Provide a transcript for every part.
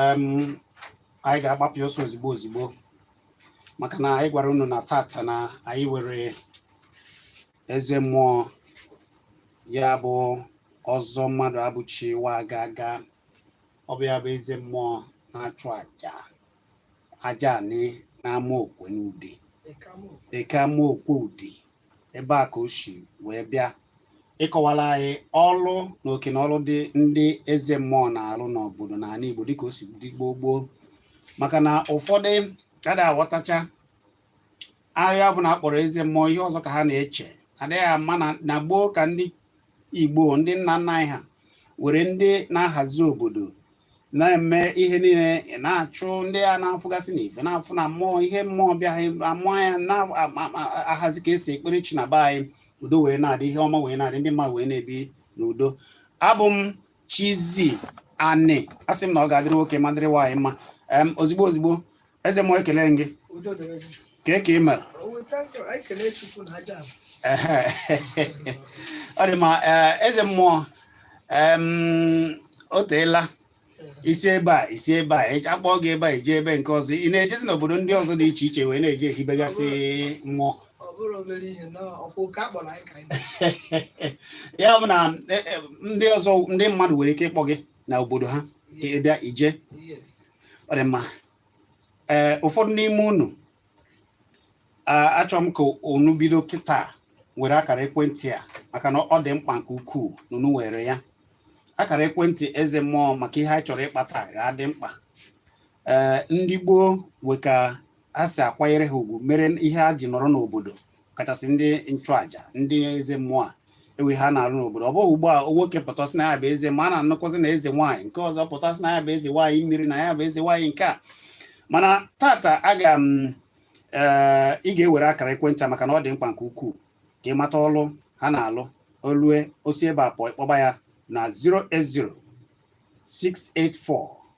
anyị ga-agbapụ ọsọ ozigbo ozigbo maka na anyị gwara unu na tata na anyị were eze mmụọ ya bụ Ọzọ Mmadụabụchi wa aga aga ọ bụ ya bụ eze mmụọ na-achụ aja aja Anị n'Amokwe n'Udi Eke Amokwe Udi ebe a ka o si wee bịa ịkọwara anyị ọrụ na oke na ọrụ dị ndị eze mmụọ na-arụ n'obodo na ala Igbo dịka o si dị gboo gboo maka na ụfọdụ ka ada aghọtacha aha ọbụla a kpọrọ eze mmụọ ihe ọzọ ka ha na-eche adịghị ama na gboo ka ndị igbo ndị nna nna anyị ha were ndị na-ahazi obodo na-eme ihe niile na-achụ ndị a na-afụgasị n'ife na-afụ na mmụọ ihe mmụọ bịa amụọ ya na-ahazi ka e si ekpere chi na be anyị udo wee na-adị ihe ọma wee na-adị ndị mmadụ wee na-ebi n'udo abụ m Chizi Anị asị m na ọ ga-adịrị nwoke ma dịrị nwaanyị mma ozigbo ozigbo eze mmụọ ekele m gị udo dịrị gị kee ka ị mere O weta nke anyị kelee Chukwu na aja ahụ. Ehe. ọ dị mma ee, eze mmụọ em, o teela i si ebe a i si ebe a eji akpọọ gị ebe a i je ebe nke ọzọ ị na-ejezi n'obodo ndị ọzọ dị iche iche wee na-eje ehibegasị mmụọ ọ bụrụ obere ihe na ọkwa oke a kpọrọ anyị ka anyị na- ya bụ na e, e, ndị ọzọ ndị mmadụ nwere ike ịkpọ gị na obodo ha ka ị bịa ije ọ dị mma ee ụfọdụ n'ime unu achọrọ m ka unu bido kịta were akara ekwentị a maka na ọ dị mkpa nke ukwuu na unu were ya akara ekwentị eze mmụọ maka ihe anyị chọrọ ịkpa taa ga-adị mkpa ee ndị gboo nwe ka a si akwanyere ha ugwu mere ihe ha ji nọrọ n'obodo kachasị ndị nchụaja ndị eze mmụọ a e nwe ihe ha na-arụ n'obodo ọ bụghị ugbu a nwoke pụta sị na ya bụ eze mmụọ a na-anụkwụzi na eze nwaanyị nke ọzọ pụta sị na ya bụ eze nwaanyị mmiri na ya bụ eze nwaanyị nke a mana tata aga m eh, ị ga-ewere akara ekwentị a maka na ọ dị mkpa nke ukwuu ka ị mata ọlụ ha na-alụ o lue o si ebe a pụọ ị kpọba ya na 080 684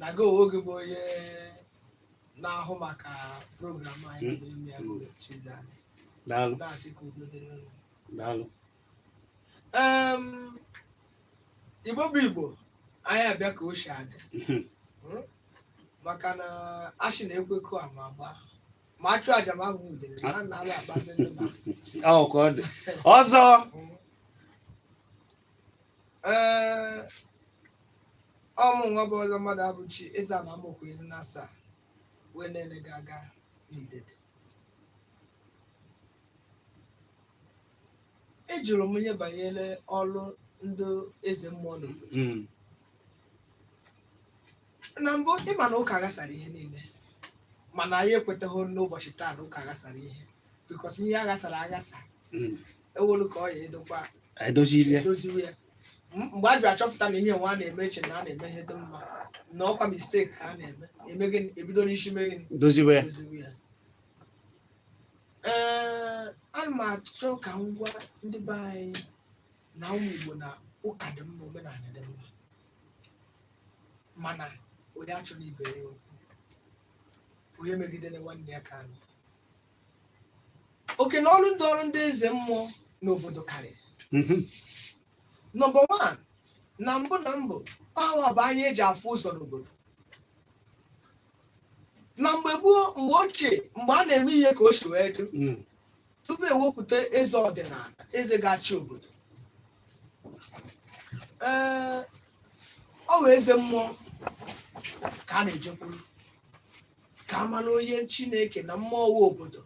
na gị onwe gị bụ onye na-ahụ maka program anyị na-eme ya bụ Chizi Anị. daalụ na-asị ka udo dịrị unu. daalụ Em, Igbo bụ Igbo anyị abịa ka o si adị Mhm. Mm? maka na a sị na-ekwekọ ama agba ma a chụ aja ma ahụ udele na a na-ala agba ndị nna. ọ ka ọ dị ọzọ Mm. ee ọ mụnwa bụ ọzọ mmadụabụchi ezeana amaokwu ezi na asaa wee na-ele gị aga n'idede ị jụrụ m ihe banyere ọrụ ndị eze mmụọ n'obodo Mm. na mbụ ị ma na ụka aghasara ihe niile mana anyị ekwetaghị n'ụbọchị taa na ụka aghasara ihe because ihe a ghasara aghasa Mm. e welu ka ọ ya edokwa anyị dozirie edoziwe ya M- mgbe a bịa chọpụta na ihe nwa a na-eme e che na a na-eme ihe dị mma na ọ kwa mistake ka a na-eme e mee gịnị e bido n'isi mee gịnị doziwe ya edoziwe ya ee ana m achọ ka m gwa ndị be anyị na ụmụ Igbo na ụka dị mma omenala dị mma mana onye achọna ibe ya okwu onye emegidena nwanne ya ka anụ oke na ọrụ dịịrị ndị eze mmụọ n'obodo karịrị Mhm. number one na mbụ na mbụ ọ wa bụ anya e ji afụ ụzọ n'obodo na mgbe gboo mgbe ochie mgbe a na-eme ihe ka o si wee dị Mm. tupu e wepụta eze ọdịnala eze ga-achị obodo ee ọ wụ eze mmụọ ka a na-ejekwuru ka a mara onye chineke na mmụọ nwe obodo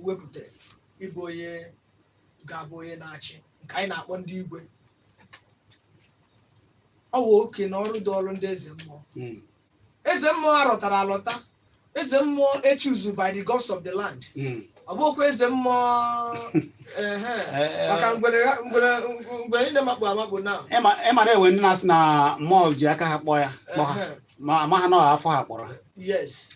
wepụtara ịbụ onye ga-abụ onye na-achị nke anyị na-akpọ ndị igwe ọ wụ oke na ọrụ dịịrị ndị eze mmụọ Mm. eze mmụọ a rọtara alọta eze mmụọ e choose by the gods of the land Mm. ọ bụkwa eze mmụọ ehe, Eh, eh, maka ngwere ha- ngwere ngwere niile makpu amakpu na ị ma ị ma na e nwe ndị na-asị na mmụọ ji aka ha kpọọ ya kpọ ha ehe, ma amaha na ọ afọ ha kpọrọ ha yes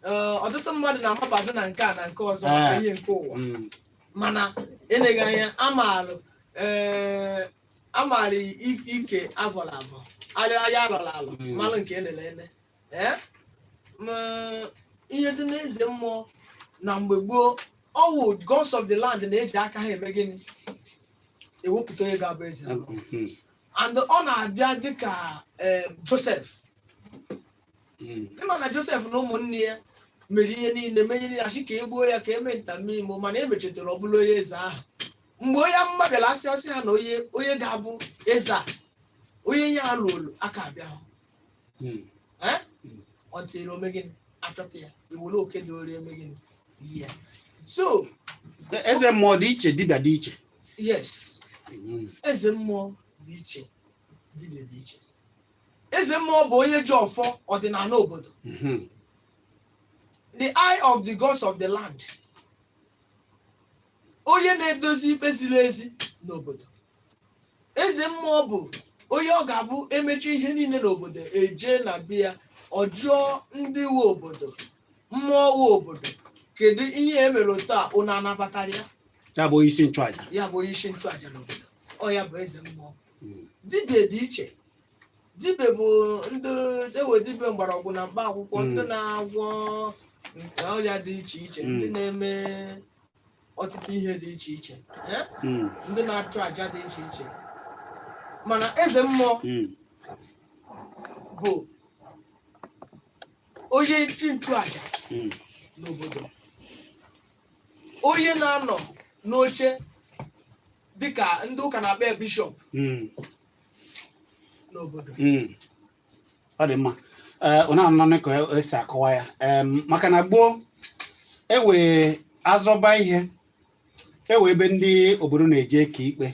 Eh, ọtụtụ mmadụ na-amabazi na nke a na nke ọzọ maka Eh. ihe nke ụwa Mm. mana eleghị anya a maalụ ee a maara i- ike a vọrọ avọ anya a lọrọ alọ Mm. malụ nke e lele ele ee ma ihe dị n'eze mmụọ na mgbe gboo ọ wụ gods of the land na-eji aka ha eme gịnị ewepụta onye ga-abụ eze ala. Mhm. and ọ na-abịa dịka em, joseph Mm. ị ma na joseph na ụmụnne ya mere ihe niile menyere ya sị ka e gbuo ya ka e mee nta mee imo mana e mechetara ọ bụlụ onye eze ahụ mgbe onye amụma bịara a sị ọ sị ha na onye onye ga-abụ eze a onye ihe a luolu aka abịahụ Mm. Eh? Mm. until e mee gịnị a chọta ya e were oke dịịrị ya mee gịnị nye ya so eze mmụọ dị iche dibịa dị iche yes Mm. eze mmụọ dị iche dibịa dị iche eze mmụọ bụ onye ji ọfọ ọdịnala obodo Mhm. the eye of the gods of the land onye na-edozi ikpe ziri ezi n'obodo eze mmụọ bụ onye ọ ga-abụ emecha ihe niile n'obodo eje na be ya ọ jụọ ndị nwe obodo mmụọ nwe obodo kedu ihe e mere otu a unu anabatara ya ya bụ onye isi nchụaja ya bụ onye isi nchụaja n'obodo ọ ya bụ eze mmụọ Mm. dibia dị iche dibia bụ ndị ewe dibia mgbọrọgwụ na mkpa akwụkwọ Mm. ndị na-agwọ ọrịa dị iche iche ndị Mm. na-eme ọtụtụ ihe dị iche iche eh? hmm. ndị na-achụ aja dị iche iche mana eze mmụọ hmm. bụ onye isi nchụaja hmm. n'obodo onye na-anọ n'oche dịka ndị ụka na-akpọ bishọp n'obodo ọ dị mma ee unu na-anụ ka esi akọwa ya em maka na gboo ewe azọba ihe ewe ebe ndị obodo na-eje eke ikpe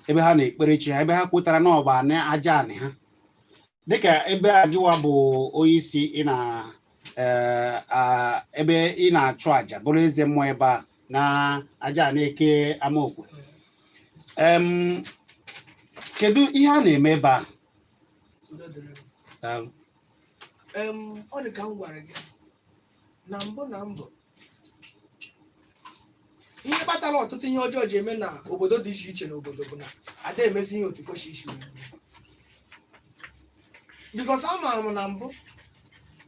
ebe ha na-ekpere chi ha ebe ha kwetara na ọ bụ na aja anị ha dịka ebe a gịwa bụ onye isi ị na ee, a- ebe ị na-achụ aja bụrụ eze mmụọ ebe a na aja ana eke amaokwe em kedu ihe a na-eme ebe a udo dịrị m. daalụ Em, ọ dị ka m gwara gị na mbụ na mbụ ihe kpatara ọtụtụ ihe ọjọọ ji eme na obodo dị iche iche n'obodo bụ na ada emezi ihe otu kwesịrị isi wee mee. because amaara m na mbụ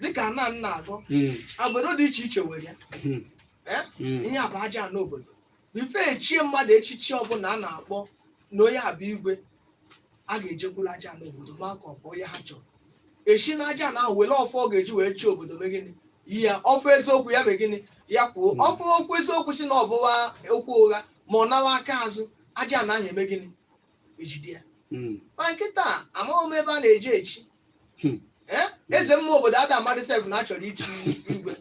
dịka nna m na-agụ Mm, agbụrụ dị iche iche were ya mm, Eh? mm, ihe a bụ aja ana obodo before echie mmadụ echichi ọbụla a na-akpọ na onye a bụ igwe a ga-ejekwuru aja ana obodo ma ka ọ bụ onye ha chọrọ esi na aja ana ahụ were ọfọ ọ ga-eji wee chị obodo mee gịnị yi ya ọfọ eziokwu ya mee gịnị ya kwuo ọfọ okwu eziokwu si na ọ bụwa okwu ụgha ma ọ nawa aka azụ aja ana ahụ eme gịnị ejide ya Mm. ma kịta amaghị m ebe a na-eji echi Hmm. Eh? eze mmụọ obodo ada amadị sef na achọrọ ichi igwe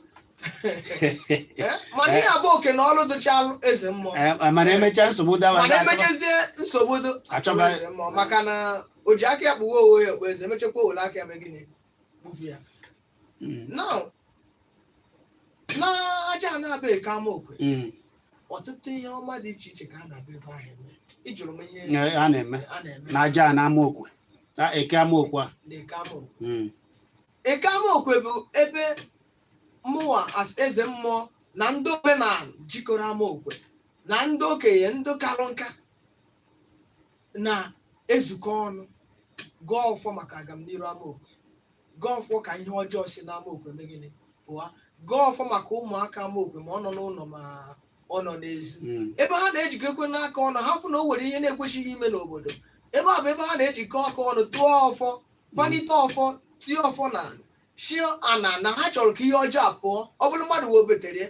Eh? mana ihe a bụ oke na ọrụ dụchalụ eze mmụọ Eh, mana emechaa nsogbu dawa mana emechazie nsogbu dụ Achọba- achọba eze mmụọ maka na o ji aka ya kpụwa owe ya okpu eze emechakwa o wele aka ya mee gịnị bufu ya Mm. now na aja ana a bụ eke ama okwe Mm. ọtụtụ ihe ọma dị iche iche ka a na-abịa ebe ahụ eme ịjụrụ m ihe Ee, a na-eme a na-eme na aja ana ama okwe na eke ama okwe a na eke ama okwe Mm. eke ama okwe bụ ebe mụwa as eze mmụọ na ndị omenala jikọrọ ama okwe na ndị okenye ndị karụ nka na-ezukọ ọnụ gọọ ọfọ maka agamniru amaokwe gọọ ọfọ ka ihe ọjọọ si n'amaokwe mee gịnị pụọ gọọ ọfọ maka ụmụaka amaokwe ma ọ nọ n'ụlọ ma ọ nọ n'ezi Mm. ebe ha na-ejikọkwanụ aka ọnụ ha fụ na o nwere ihe na-ekwesịghị ime n'obodo ebe a bụ ebe ha na-ejikọ aka ọnụ tụọ ọfọ kpalite ọfọ tie ọfọ n'ala shị ana na ha chọrọ ka ihe ọjọọ a pụọ ọ bụrụ mmadụ webetere ya,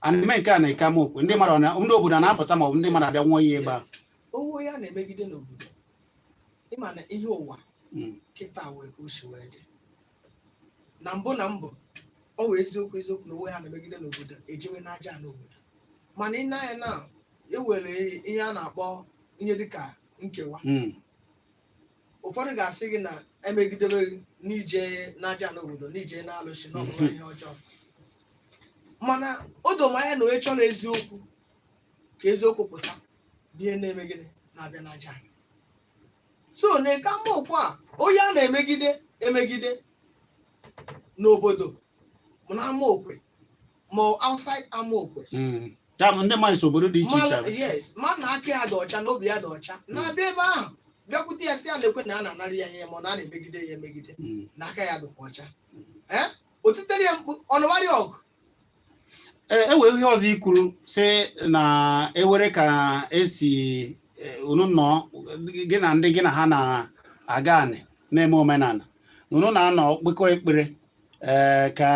a na-eme nke a n'eke amaokwu ndị mmadụ na ndị obodo na-apụta ma ọ bụ ndị mmadụ abịa ṅụọ iyi ebe a onye a na-emegide n'obodo ị ma na ihe ụwa Mm. kịta wee ka o si wee dị na mbụ na mbụ ọ wee eziokwu eziokwu na onye a na-emegide n'obodo ejewe n'ajana obodo mana ị nee anya na e were ihe a na-akpọ ihe dịka nkewa Mm. ụfọdụ ga-asị gị na e megidebe gị na ije n'ajana obodo na ije n'alụsị na ọ bụ ihe ọjọọ mana o doro m anya na onye chọrọ eziokwu ka eziokwu pụta bụ ihe na-eme gịnị na-abịa n'aja nsọ n'eke amaokwu a onye a na-emegide emegide n'obodo ma na amaokwe ma outside Amaokwe Mm. ya bụ ndị mmadụ si obodo dị iche iche Mmadụ- yes ma na aka ya dị ọcha na obi ya dị ọcha na-abịa ebe ahụ bịakwute ya sị ya nekwe na a na-anara ya ihe ma ọ na a na-emegide ya emegide Mm. na aka ya dịkwa ọcha ee o titere ya mkpu ọ nụwara ya ọgụ Ee, e were ihe ọzọ i kwuru sị na e were ka e si eh, unu nọ gị na ndị gị na ha na-agọ anị na-eme omenala na unu na-anọ kpekọ ekpere ee, ka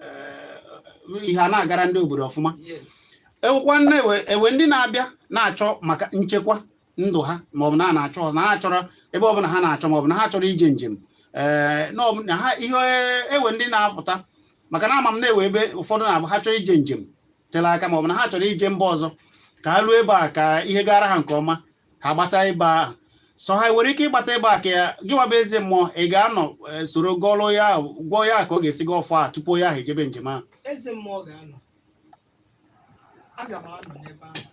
eh, ihe a na-agara ndị obodo ọfụma ewekwanụ ewe ndị na-abịa na-achọ maka nchekwa ndụ ha maọbụ na na-achọ na ha chọrọ ebe ọbụla ha na-achọ maọbụ na ha chọrọ ije njem ee eh, na ha ihe ewe ndị na-apụta maka na ama m na ewe ebe ụfọdụ na-abụ ha chọrọ ije njem tere aka maọbụ na ha chọrọ ije mba ọzọ ka ha ruo ebe a ka ihe gara ha nke ọma ha gbata ebe ahụ so ha nwere ike ịgbata ebe a ka ya gị wa bụ eze mmụọ ị ga-anọ eh, soro gọlụ ya ahụ, gwa ya ka ọ ga-esi gọọ ọfọ a tupu ya ahụ ejebe njem ahụ eze mmụọ ga-anọ aga m anọ n'ebe ahụ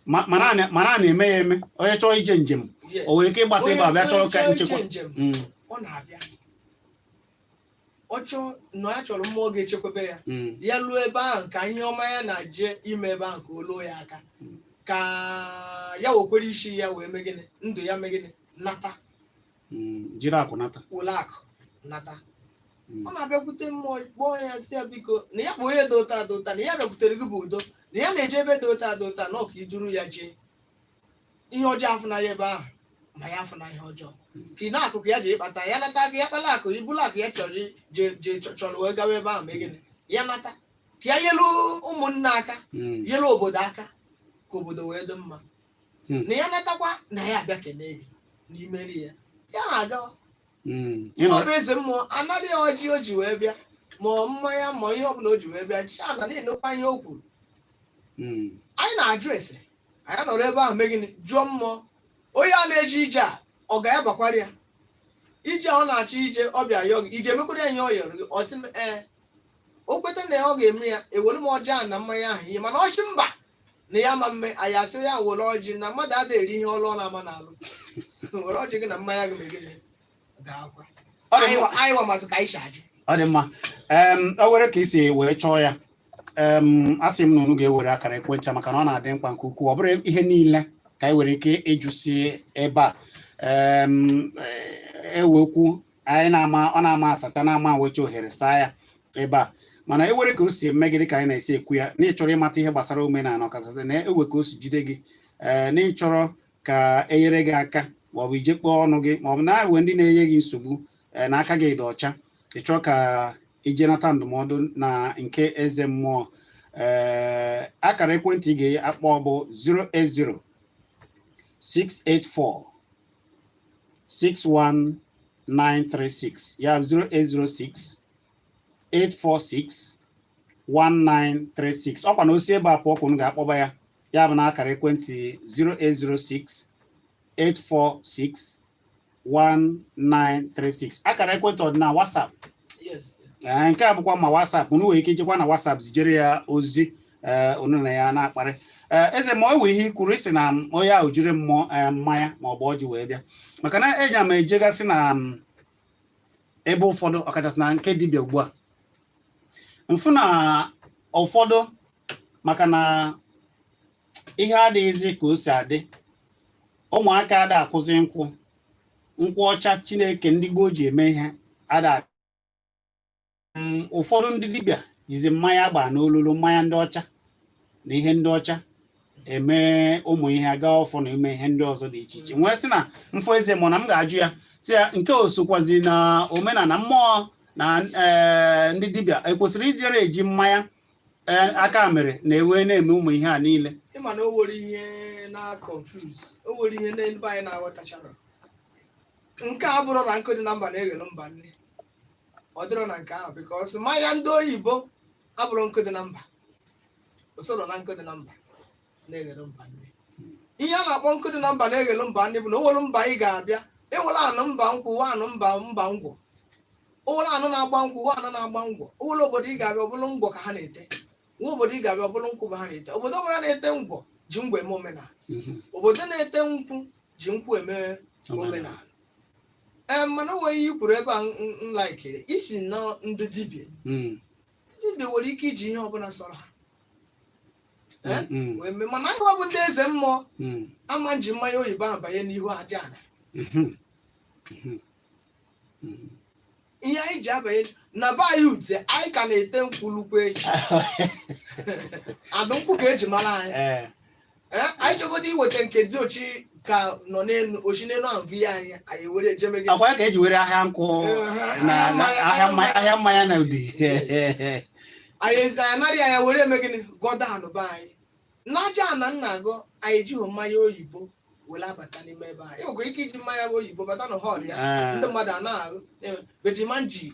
Ma- mana a na- mana a na-eme ya eme onye chọọ ije njem Yes. o nwere ike ịgbata Onye- ebe a bịa chọọ onye ka chọọ nchekwa ije njem, Mm. ọ na-abịa ọ chọọ na ya chọrọ mmụọ ga-echekwebe ya Mm. ya luo ebe ahụ ka ihe ọma ya na-aje ime ebe ahụ ka o luo ya aka Mm. ka ya wekwere isi ya wee mee gịnị ndụ ya mee gịnị nata Mm. jiri akụ nata were akụ nata Mm. ọ na-abịakwute mmụọ kpọọ ya sị ya biko na ya bụ onye dị otu a dị otu a na ya bịakwutere gị bụ udo na ya na-eje ebe dị otu a dị otu a na ka i duru ya jee ihe ọjọọ afụna ya ebe ahụ ma ya afụna ihe ọjọọ ka ị na-akụkụ ya ji ịkpata ya nata ka ya kpala akụ ibulu akụ ya chọrọ i- je je chọ- chọrọ wee gawa ebe ahụ mee gịnị ya nata ka ya nyelu ụmụnna aka Mm. nyelu obodo aka ka obodo wee dị mma Mm. na ya natakwa na ya abịa kelee gị na i meere ya ya agawa Mm. Ị nọ- ọ bụ eze mmụọ anara ọjị o ji wee bịa ma mmanya ma ihe ọbụla o ji wee bịa chi ana na-anụkwa ihe o kwuru Mm. anyị na-ajụ ese anyị nọrọ ebe ahụ mee gịnị jụọ mmụọ onye a na-eje ije a ọ ga-abakwara ya ije a ọ na-achọ ije ọ bịa yọọ gị ị ga-emekwara ya ihe ọ yọrọ gị ọ sị m ee o kweta na ọ ga-eme ya ewere m ọjị ahụ na mmanya ahụ ihe mana ọ sị mba na ya ma mme anyị asị ya were ọjị na mmadụ adịghị eri ihe ọlụ ọ na-ama na-alụ were ọjị gị na mmanya gị mee gịnị ọ dị mma anyị wa mazi ka anyị si ajụ ọ dị mma em o nwere ka i si wee chọọ ya em asị m na unu ga-ewere akara ekwentị a maka na ọ na-adị mkpa nke ukwuu ọ bụrọ ihe niile ka anyị nwere ike ịjụsi ebe a em eh, e nwee okwu anyị na-ama ọ na-ama asata na-ama nwecha ohere saa ya ebe a mana e nwere ka o si eme gị dịka anyị na-esi ekwu ya na ị chọrọ ịmata ihe gbasara omenala ọkachasị na e nwee ka o si jide gị ee na ị chọrọ ka e nyere gị aka ma ọ bụ ije kpọọ ọnụ gị ma ọ bụ na e nwee ndị na-enye gị nsogbu e, na aka gị dị ọcha ị chọọ ka i je nata ndụmọdụ na nke eze mmụọ ee akara ekwentị ị ga-akpọ bụ 080 684 61936 ya 0806 846 1936 ọ kwa na o si ebe a pụọ ka unu ga-akpọba ya ya bụ na akara ekwentị 0806 846 1936 akara ekwentị ọ dị na WhatsApp ee nke a bụkwa ma WhatsApp unu nwere ike ijekwa na WhatsApp zijere ya ozi ee unu na ya na-akparị ee eze mmụọ e nwee ihe i kwuru ị sị na mm, onye ahụ jiri mm ee, mmanya ma ọ bụ ọjị wee bịa maka na eji ama ejegasị na m, ebe ụfọdụ ọkachasị na nke dibịa ugbu a m fụ na ụfọdụ maka na ihe adịghịzi ka o si adị ụmụaka ada akụzi nkwụ nkwụ ọcha chineke ndị gboo ji eme ihe ada mm, ụfọdụ ndị dibịa jizi mmanya a gba n'ololo mmanya ndị ọcha na ihe ndị ọcha eme ụmụ ihe agọ ọfọ na ime ihe ndị ọzọ dị iche iche m wee sị na m fụ eze mmụọ na m ga-ajụ ya sị ya nke a o sokwazi na omenala ma ọ na eh, ndị dibịa ekwesịrọ ijere eji mmanya ee aka mere na wee na-eme ụmụ ihe a niile ị ma na o nwere ihe na-confuse o nwere ihe n'ebe anyị na-aghọtacharọ nke a abụrọ na nkụ dị na mba na-eghelu mba nni ọ dịrọ na nke ahụ because mmanya ndị oyibo abụrọ nkụ dị na mba o sorọ na nkụ dị na mba na-eghere mba nri ihe a na-akpọ nkụ dị na mba na-eghere mba nri bụ na o were mba ị ga-abịa e were anụ mba nkwụ wa anụ mba mba ngwọ o were anụ na-agba nkwụ wa anụ na-agba ngwọ o were obodo ị ga-abịa ọ bụrụ ngwọ ka ha na-ete nwee obodo ị ga-abịa ọ bụrụ nkwụ bụ ha na-ete obodo ọbụla na-ete ngwọ ji ngwọ eme omenala Mhm. obodo na-ete nkwụ ji nkwụ eme omenala ee mana o nwe ihe i kwuru ebe a m- m- m laikiri i si na ndị dibịa Mm. dibịa nwere ike iji ihe ọbụla sọrọ ha Eh? Mm, wee mee mana anyị bụ ndị eze mmụọ mm, ama eji mmanya oyibo ahụ banye n'ihu aja ala mhm, mhm, mhm. ihe anyị ji abanye na be anyị ute anyị ka na-ete nkwụ lukwu echi adụ nkwụ ka e ji mara anyị Eh, Eh, anyị chọgodo iweta nke diochi ka nọ n'elu ochi n'elu ahụ vi anyị anyị were ejeme gị akwa ya ka e ji were ahịa nkwụ Eh, na na ahịa mmanya ahịa mmanya na ụdị anyị ezi anyị narị anya were eme gịnị gọda anụba anyị n'aja ana nna agụ anyị ejighị mmanya oyibo were abata n'ime ebe anyị e nwekwa ike iji mmanya oyibo bata na hall ya Ah. ndị mmadụ a na-aṅụ bejimanji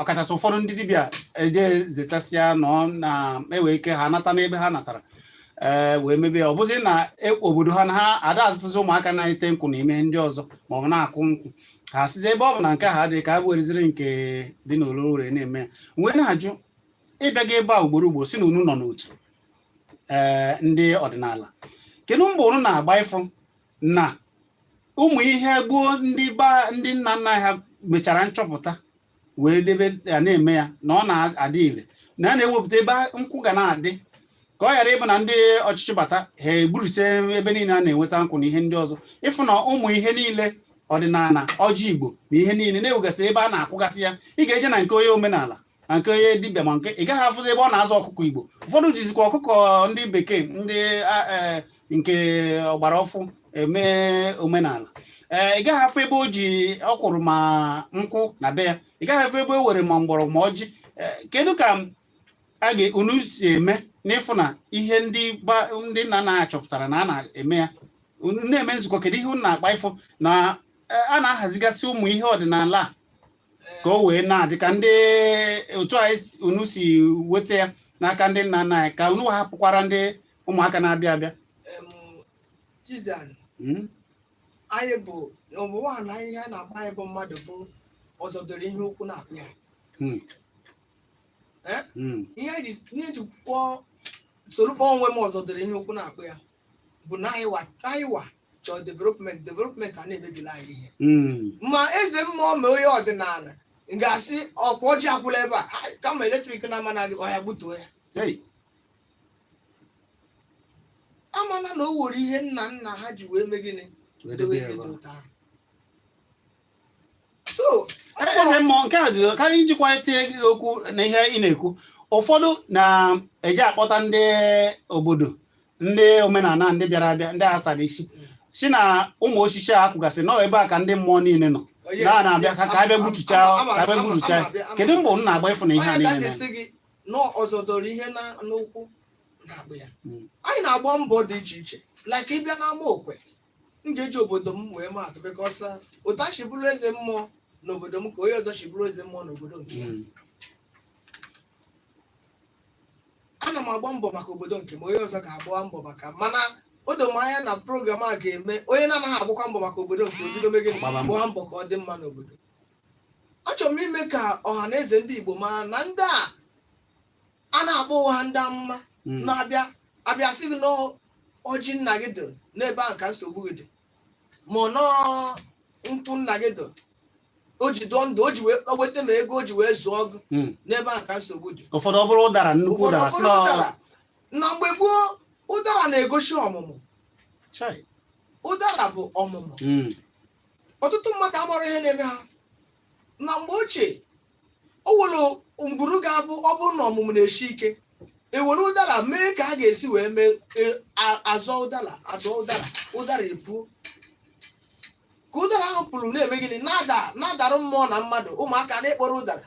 ọkachasị ụfọdụ ndị dibịa eje zetasịa nọ na-ewe ike ha nata n'ebe ha natara ee wee mebie ya. ọ bụzi na e- obodo ha na ha ada azụtụzi ụmụaka na-ete nkwụ na ime ihe ndị ọzọ maọbụ na-akụ nkwụ ha sịzi ebe ọ bụ na nke ha adịghị ka ha wereziri nke dị n'ololo were na-eme ya wee na-ajụ ị bịago ebe a ugboro ugboro si na unu nọ n'otu ee ndị ọdịnala kedu mgba unu na-agba ịfụ na ụmụ ihe gboo ndị ba ndị nna nna ha mechara nchọpụta wee debe ya na-eme ya na ọ na-adị ile na a na-ewepụta ebe nkwụ ga na-adị ka ọ ghara ịbụ na ndị ọchịchị bata ha egburisie ebe niile a na-enweta nkwụ na ihe ndị ọzọ ịfụ na ụmụ ihe niile ọdịnala ọjị igbo na ihe niile na-ewegasị ebe a na-akụgasị ya ị ga-eje na nke onye omenala na nke onye dibịa ma nke ị gaghị afụzi ebe ọ na-azụ ọkụkọ igbo ụfọdụ jizikwa ọkụkọ ndị bekee ndị a- eh, nke ọgbara ọfụụ eme omenala ee ị gaghị afụ ebe o ji ọ kụrụ ma nkwụ na be ya ị gaghị afụ ebe o were ma mgbọrọgwụ ma ọjị Eh, kedu ka aga unu si eme n'ịfụ na ihe ndị ba- ndị nna nna anyị chọpụtara na a na-eme ya unu na-eme nzukọ kedu ihe unu na-akpa ịfụ na eh, a na-ahazigasị ụmụ ihe ọdịnala a ka o wee na-adị ka ndị otu a unu si weta ya n'aka ndị nna nna anyị ka unu hapụkwara ndị ụmụaka na-abịa abịa hmm? anyị bụ ọbụwa na ihe a na-akpa anyị bụ mmadụ bụ ọzọ doro ihe ukwu na-akpụ ya hmm. Hmm. ihe ji kwuo soro kpọọ onwe m ọzọ doro ihe ukwu na-akpụ ya bụ na anyịwa anyịwa chọọ development development a na-emebila anyị ihe Mm. ma eze mmụọ ma onye ọdịnala m ga-asị ọkwa ọjị akwụla ebe a Ai, kama eletrik na-ama na gị oya gbutuo ya Hey. amana na o were ihe nna nna ha ji wee mee gịnị Wee dowe dobe ya ihe ebe dị a. otu ahụ so eze mmụọ nke a dị- ka anyị jikwa etinye gị okwu na ihe ị na-ekwu ụfọdụ na-eji akpọta ndị obodo ndị omenala ndị bịara abịa ndị asara isi sị na ụmụ osisi a kwụgasị nọ ebe a ka ndị mmụọ niile nọ Oh, yes, na na-abịa yes, ka ka abịa ama- gbutucha ama- ama- ka abịa ama- gbutucha ama- ama- ama- kedu mbọ unu na-agba ịfụ na ihe a onye niile ka na na-esi gị na ọzọ dọrọ ihe na- n'ụkwụ na-agba ya Mm. anyị na-agba mbọ dị iche iche like ịbịa n'ama okwe m ga-eji obodo m wee maa atụ because otu a si bụrụ eze mmụọ n'obodo m ka onye ọzọ si bụrụ eze mmụọ n'obodo nke ya Mm. ana m agba mbọ maka obodo nke m onye ọzọ ga-agba mbọ maka mana o doro m anya na program a ga-eme onye na-anaghị agbakwa mbọ maka obodo nke o bido mee gịnị Gbaba mbọ. gbaa mbọ ka ọ dị mma n'obodo achọrọ m ime ka ọha na eze ndị Igbo mara na ndị a a na-akpọ onwe ha ndị amụma Mm. na-abịa abịa sị gị na ọjị nna gị dị n'ebe ahụ ka nsogbu gị dị ma ọ nọọ nkwụ nna gị dị o ji dụọ ndụ o ji wee o weta ma ego o ji wee zụọ gị Mm. n'ebe ahụ ka nsogbu dị ụfọdụ ọ bụrụ ụdara nnukwu ụfọdụ ụdara ọ sị bụrụ na ụdara na mgbe gboo ụdara na-egosi ọmụmụ Chai. ụdara bụ ọmụmụ Mm. ọtụtụ mmadụ amarọ ihe na-eme ha na mgbe ochie o nwere ngwuru ga-abụ ọ bụrụ na ọmụmụ na-esi ike ewere ụdara mee ka a ga-esi wee mee e- a- azọ ụdara azọ ụdara ụdara epuo ka ụdara ahụ puru na-eme gịnị na-ada na-adara mmụọ na mmadụ ụmụaka na-ekporo ụdara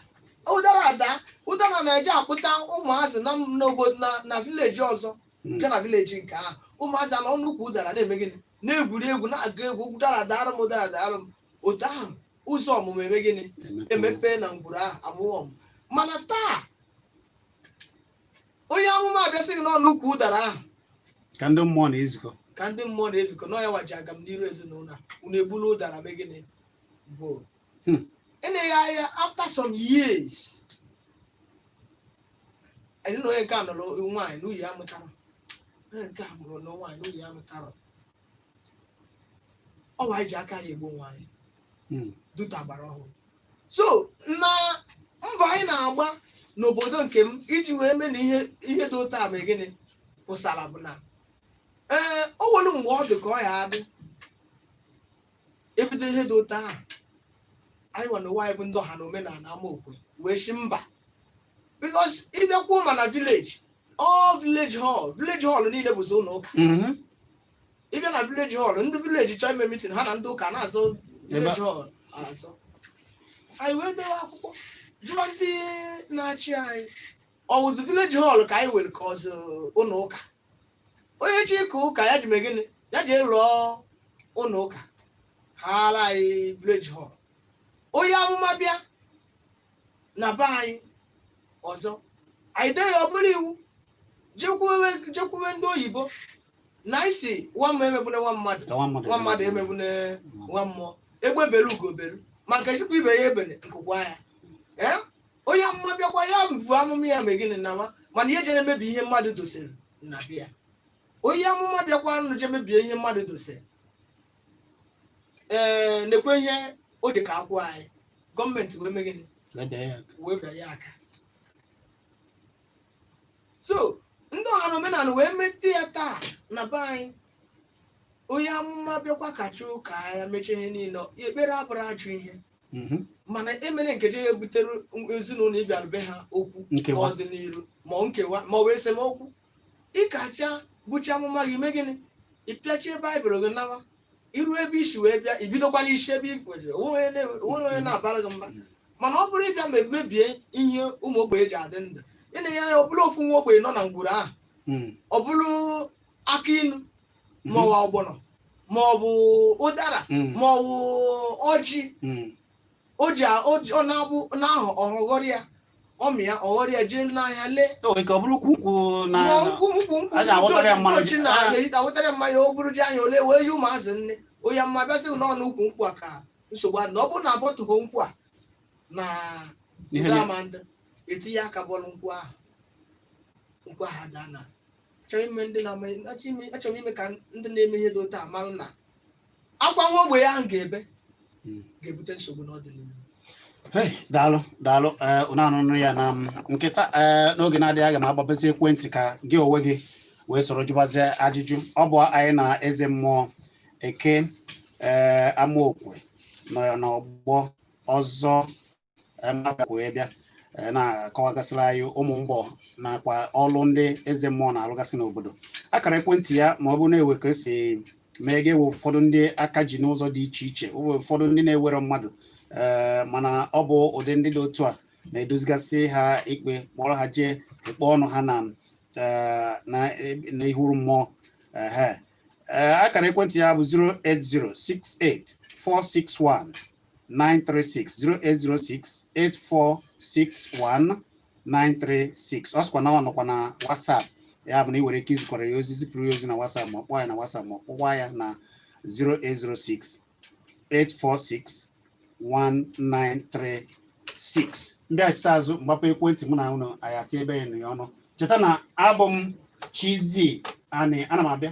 ụdara ada ụdara na-eje akpụta ụmụazị na n'obodo na na vileji ọzọ Mm. nke na vileji nke ahụ ụmụazị anọ n'ukwu ụdara na-eme gịnị na-egwuri egwu na-agụ egwu ụdara daara m ụdara daara m otu ahụ ụzọ ọmụmụ eme gịnị emepe na ngwuru ahụ amụọ ụmụ mana taa onye amụma abịa sị gị na ọ n'ukwu ụdara ahụ ka ndị mmụọ na-ezukọ ka ndị mmụọ na-ezukọ na ọ yawa ji agamniru ezinụlọ a, unu egbula ụdara mee gịnị bụ Hmm. eleghị anya after some years a nụ na onye nke a nụrụ nwaanyị nwunye ya amụtarọ onye nke a nụrụ nwaanyị nwunye ya amụtarọ ọ bụ anyị ji aka anyị egbu onwe anyị Mm. duta agbara ọhụrụ so na mbọ anyị na-agba n'obodo nke m iji wee mee na ihe ihe dị otu a mee gịnị pụsara bụ na ee o nwere mgbe ọ dị ka ọ ya adị ebido ihe dị otu ahụ anyị nwa na ụwa anyị bụ ndị ọha na omenala Amaokwe wee sị mba because ị bịakwuo ma na village ọ village hall village hall niile bụzi ụlọ ụka Mhm. ị bịa na village hall ndị village chọọ ime meeting ha na ndị ụka na-azọ village hall azọ anyị wee dewe akwụkwọ jụọ ndị na-achị anyị ọ wụzi village hall ka anyị were ka ọ wụzi ụlọ ụka onye chọọ ịka ụka ya jee mee gịnị ya jee lụọ ụlọ ụka haara anyị village hall onye amụma bịa na be anyị ọzọ anyị dee ya ọ bụrụ iwu jekwuwe jekwuwe ndị oyibo na anyị sị nwa mmụọ emegbune nwa mmadụ Ka nwa mmadụ nwa mmadụ emegbune nwa mmụọ egbe belu ugo belu ma nke sịkwa ibe ya ebene nku kwaa ya ee onye amụma bịakwa ya buo amụma ya mee gịnị nawa mana ihe jere emebi ihe mmadụ dosere na be ya onye amụma bịakwanụ jee mebie ihe mmadụ dosere ee nekwe ihe o ji ka akwụ anyị gọọmenti wee mee gịnị Leda ya aka. wee bịa ya aka so ndị ọha na omenala wee mete ya taa na be anyị onye amụma bịakwa kacha ụka ya mechaa ihe niile ya ekpere abụrọ ajọ ihe Mhm. mana emene nke je ebutere ezinụlọ ị bịara be ha okwu Nkewa. n'ọdịnihu ma ọ nkewa ma ọ bụ esemokwu ị kacha buchaa amụma gị mee gịnị ị pịachie baịbụl gị nawa i ruo ebe i si wee bịa i bidokwa n'isi ebe i kwụsịrị o nwerọ onye na-abara gị mba mana ọ bụrụ ị bịa ma mebie ihe ụmụ ogbenye ji adị ndụ ị naa ya ọ bụrụ ofu nwa ogbenye nọ na ngwuru ahụ Mm. ọ bụrụ akị inu ma ọ bụ ọgbọnọ ma ọ bụ ụdara Mm. ma ọ bụ ọjị Mm. o ji a- o ji- ọ na-abụ n'ahụ ọ ghọrọ ya ọ mịa ọ ghọrọ ya jee n'ahịa lee o nwere ike ọ bụrụ ukwu nkwụ na Ma nkwụ nkwụ nkwụ a ga-awụtara ya mmanụ nkwụ na Ah. erita wetara mmanya o buru jee ahịa o lee wee nye ụmụazị nni onye amụma bịa sị na ọ n'ukwu nkwụ a ka nsogbu dị na ọ bụrụ na abọtụghị nkwụ a na Ihe ndị dị- ama ndị etinye aka bọọlụ nkwụ ahụ nkwụ ahụ adaa na achọrọ ime ndị na-ama achọrọ ime- achọrọ ime ka ndị na-eme ihe dị otu a mara na akwa nwa ogbenye ahụ ga-ebe Mm. ga-ebute nsogbu n'ọdịnihu Hey, daalụ daalụ ee ụnụ anụnụ ya na m nkịta ee n'oge na-adịghị anya aga m agbapezi ekwentị ka gị onwe gị wee soro jụbazie ajụjụ ọ bụ anyị na eze mmụọ Eke ee Amaokwe nọ ya n'ọgbọ ọzọ wee bịa e, na-akọwagasịrị anyị ụmụ mbọ nakwa ọlụ ndị eze mmụọ na-alụgasị n'obodo akara ekwentị ya ma ọ bụ na e nwee ka e si mee ga-ewe ụfọdụ ndị aka ji n'ụzọ dị iche iche ụfọdụ ndị na-enwerọ mmadụ e, mana ọ bụ ụdị ndị dị otu a na-edozigasị ha ikpe kpọrọ ha jee ikpe ọnụ ha na e, na ihu mmụọ ee akara ekwentị ya bụ 08068461936 08068461936 ọ sịkwa na ọ nọkwa na WhatsApp ya bụ na ị nwere ike izikwara ya ozi zipụrụ ya ozi na WhatsApp ma kpọọ ya na WhatsApp ma ọ kpọkwa ya na 0806846 1936 m bịachite azụ m gbapee ekwentị mụ na ụnụ anyị ati ebe ya ọnụ cheta na abụ m Chizzy Ani ana m abịa